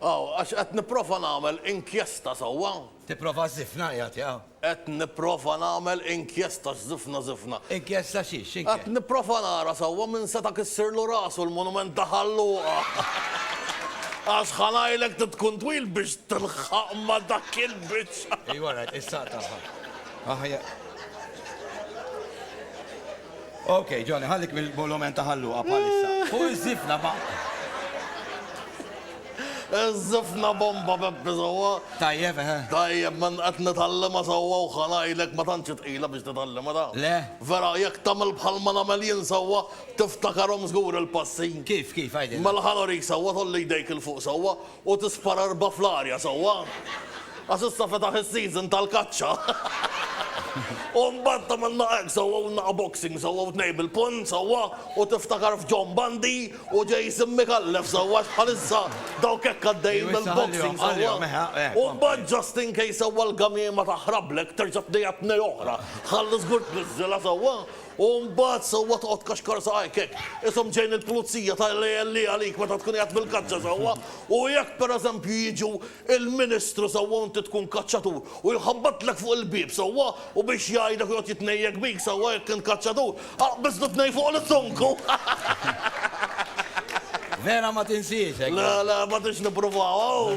Aw, għax qed nipprova nagħmel inkjesta sewwa. Tipprova żżifna qiegħed, ja? Qed nipprova nagħmel inkjesta x'żifna żifna. Inkjesta xi, x'inke? Qed nipprova nara sewwa min seta' kissirlu rasu l-monument ta' Ħal Luqa. Għax ħa ngħidlek trid tkun twil biex tilħaq ma' dak il-biċċa. Ejwa rajt, is-saq tagħha. Aħjar. Ok, Johnny, ħallik mill-bolomen ta' ħalluqa bħalissa. Fuq iż-żifna ba'. Iż-żifna bomba Peppi sewwa. Tajjeb, eħe. Tajjeb, ma qed nitgħallimha sewwa u ħanajlek ma tantx hi tqila biex titgħallimha ta'. Le. Vera, jekk tagħmel bħal ma nagħmel jien sewwa, tiftakarhom żgur il-passi. Kif, kif, għidilna. Mela ħa nurik sewwa, tgħolli jdejk 'il fuq sewwa U tispara erbgħa fl-arja sewwa. Għax issa fetaħ is-season tal-kaċċa. U mbagħad tagħmilna hekk sewwa u naqa' boxing sewwa u tnejn bil-punn sewwa u tiftakar f'John Bundy u Jason Micallef sewwa għax bħalissa dawk hekk għaddejjin mill-boxing sewwa. U mbagħad just in case sewwa l-gamiema taħrablek terġa' tnejha tnej oħra. Ħalli żgur tniżżilha sewwa U mbagħad sewwa toqgħod tkaxkar saqajk hekk, ishom ġejn il-pulizija tgħid lli għalik meta tkun qiegħed fil-kaċċa sewwa, u jekk pereżempju jiġu l-Ministru sewwa u inti tkun kaċċatur, u jħabbatlek fuq il-bieb sewwa, u biex jgħidek u joqgħod jitnejjek bik sewwa jekk int kaċċatur, aqbiżlu t-tnejn fuq l-issunku! Vera ma tinsiex hekk. Le, le, ma tridx nippruvaw.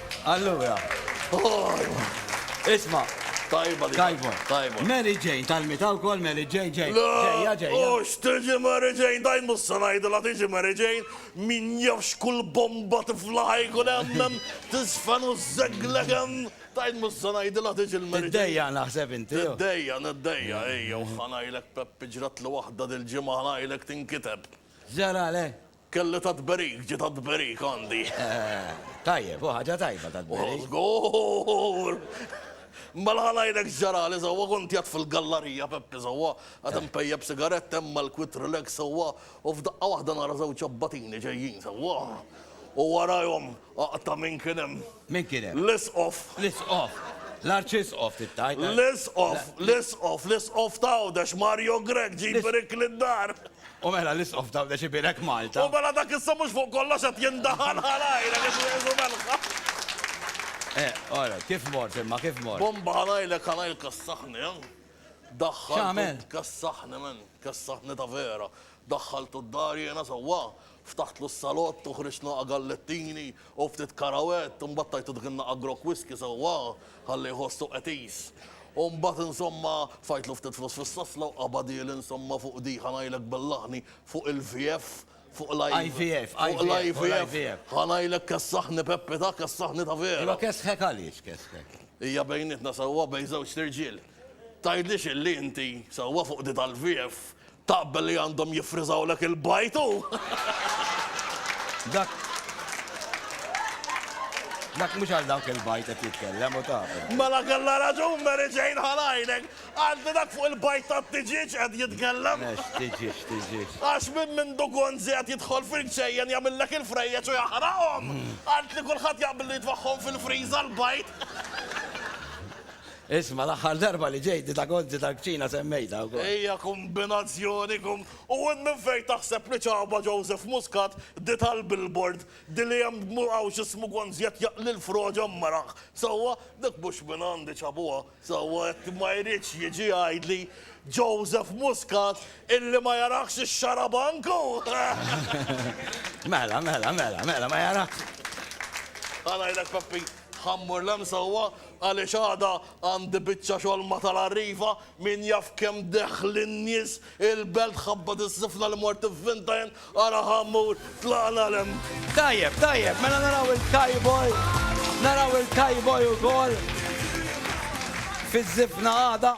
Allura, isma'. Tajba li. Tajba. Tajba. Mary Jane, tal-mita wkoll Mary Jane, ġej. Ġejja, ġejja. U x'tiġi Mary Jane, daj mhux se ngħidilha tiġi Mary Jane, min jaf x'kull bomba tifla ħa jkun hemm hemm, tiżfen u żżegglek hemm, daj mhux se ngħidilha tiġi l-Mary Jane. Tiddejjaq naħseb inti. Niddejjaq, niddejjaq, ejja, u ħa ngħidlek Peppi ġratli waħda dil-ġimgħa ħa ngħidlek tinkiteb. X'ġaralek? Kelli ta' tberik, ġie ta' tberik għandi. Tajjeb, hu ħaġa tajba ta' tberik. Żgur! Mela ħa ngħidlek x'ġarali sewwa, kont qiegħed fil-gallarija, Peppi, sewwa, qed inpejjep sigaretta hemm mal-Quit Relax sewwa, u f'daqqa waħda nara żewġ abbatini ġejjin sewwa. U warajhom, aqta' min kien hemm! Min kien hemm? L-Isqof. L-Isqof. L-Arċisqof trid tgħid. L-Isqof, l-Isqof, l-Isqof ta' Għawdex, Mario Grech, ġie jbirik lid-dar. U mela l-Isqof ta' Għawdex ibierek Malta. U mela dak issa mhux fuq kollox qed jindaħal ħalajlek qed jgħidu melħa. Eh, all right, kif mort imma, kif mort? Bomba ħalajlek ħalajlka s-saħħ, neh? Daħħaltu tkessaħni men, kessaħni ta' vera, daħħaltu d-dar jiena sewwa, ftaħtlu s-salott u ħriġt naqa' gallettini u ftit karawett, imbagħad tajtu dik in-naqa' grokk whisky sewwa, ħalli jħossu qetis. U mbagħad insomma, tfajtlu ftit flus fis-sasla u qabadieli insomma fuq di, ħa ngħidlek bil-laħni, fuq il-VF, Fuq l-IVF, fuq l-IVF, ħa ngħidlek kessaħni Peppi ta, kessaħni ta' veru. Imma kessħek għaliex kessħek? Hija bejnietna sewwa bejn żewġt irġiel. Tgħidlix illi inti, sewwa fuq di tal-VF, taqbel li għandhom jiffriżawlek il-bajd hu! Dak Dak mhux għal dawk il-bajd qed jitkellem u taf. Mela kellha raġun Mary Jane ħa ngħidlek! Għandi dak fuq il-bajd tat-tiġieġ qed jitkellem. Ex, tiġieġ, tiġieġ. Għax minn mindu Gonzi qed jidħol fil-ġejjen jagħmillek il-frejjeġ u jaħraqhom. Għidt li kulħadd jaqbel li jitfagħhom fil-friża l-bajd. Isma', l-aħħar darba li ġejt, di ta' Gonzi tal-kċina semmejtha wkoll. Hija kombinazzjoni kom. U int minn fejn taħseb li ċaba Joseph Muscat di tal-billboard, di li hemm b'mur hawn x'ismu Gonzi qed jaqli l-froġa mmaragħ. Sewwa, dik mhux minn għandi ċabuha. Sewwa jekk ma jridx jiġi jgħidli Joseph Muscat illi ma jarahx ix-xarabank hu! Mela, mela, mela, mela, ma jarahx. Ħa ngħidlek Peppi, ħammur l-hemm sewwa għaliex għada għandi biċċa xogħol ma' tal-Arriva, min jaf kemm deħħlin nies Il-belt tħabbat is-sifna li mort ivvinta jien ara ħammur tlaqna l-hemm. Tajjeb, tajjeb, mela naraw il-Kayboy, naraw il-Kayboy ukoll fiż-żifna għada.